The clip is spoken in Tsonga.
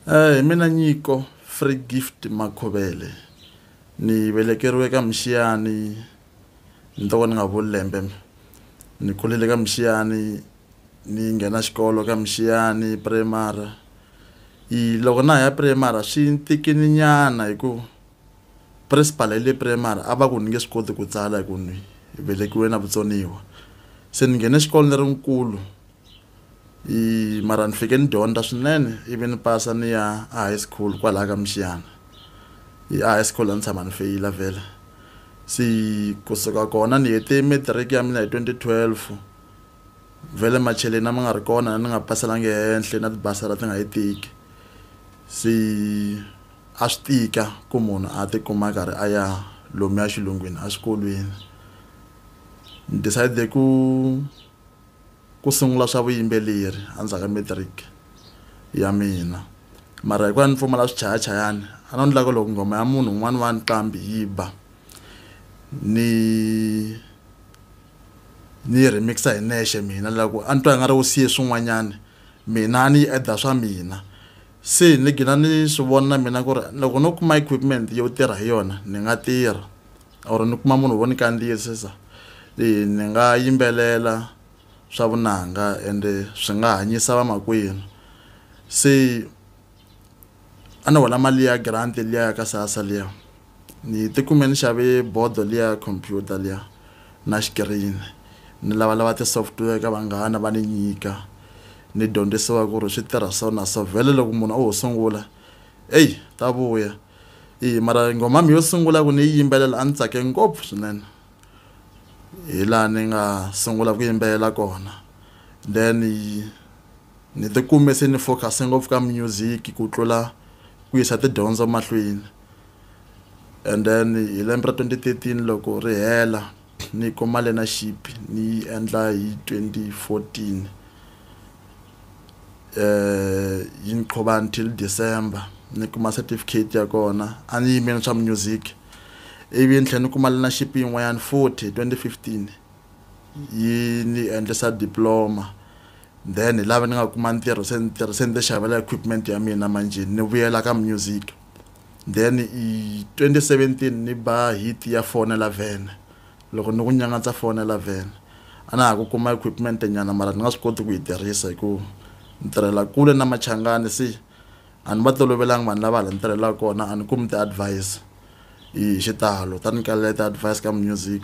Eh, hi mina Nyiko Free Gift Makhovele ni velekeriwe ka Mixiyani ni to ka ni nga vuli lembe ni kulele ka Mixiyani ni nghena xikolo ka Mixiyani primary i loko na ha ya primary swi ni tikini nyana hi ku principal ya le primary a va ku ni nge swi koti ku tsala hi ku ni velekiwe na vutsoniwa se ni nghene xikolo ni ri nkulu. i mara ni fike ni dyondza swinene ivi ni pasa ni ya a high school kwalaha ka mixiyana i a high school a ni tshama ni feyila vhele se kusuka kona ni hete matric ya mina hi twenty twelve vhele macheleni a ma nga ri kona ni nga paselanga ehenhla na tibasara ti nga yi tiki se a swi tika ku munhu a tikuma karhi a ya lomuya xilungwini exikolweni ni decide ku Ku sungula swa vuyimbeleri endzhaku ka matric ya mina, mara hikuva a ni pfumala swichayachayani a no ndlaka loko nghoma ya munhu un'wana wa nqambi yi ba ni ni yi remix-a hi nexe mina la ku a ni twa nga ri u siye swin'wanyani mina a ni yi add-a swa mina se ni gina ni swi vona mina ku ri loko no kuma equipment yo tirha hi yona ni nga tirha. or ni kuma munhu vo ni kandziyisisa leyi ni nga yimbelela swa vunanga ende swi nga hanyisa vamakwenu se a ni hola mali ya grant liya ya ka sasa liya ni tikume ni xave bodo liya computer liya na xikirini ni lavalava ti-software ka vanghana va ni nyika ni dyondzisiwa ku ri swi tirha so na so vhele loko munhu o ho sungula eyi ta vuya i mara nghoma mi yo sungula ku ni yi yimbelela a ni tsake ngopfu swinene hi laha ni nga sungula ku yimbelela kona then ni tikume se ni focuse ngopfu ka music ku tlula ku yisa tidyondzo mahlweni and then hi lembe ra twenty thirteen loko ri hela Ni kuma learnership ni yi endla hi 2014 yi ni qhuba until December ni kuma certificate ya kona a ni yimeli swa music ivi ni tlhela ni kuma learnership yin'wanyana futhi 2015 yi ni endlisa diploma then hi lava ni nga kuma ntirho se ni tirhi se ni ti xavela equipment ya mina manjhe ni vuyela ka music. then i 2017 ni ba hit ya fonela vene loko ni ku nyangatsa fonela vene a na ha ku kuma equipment nyana mara ni nga swi koti ku yi tirhisa hikuva ni tirhela kule na machangani se a ni va tolovelanga vanhu lava hala ni tirhelaka kona a ni kumi ti-advise hi xitalo ta ni kalela ti-advise ka music.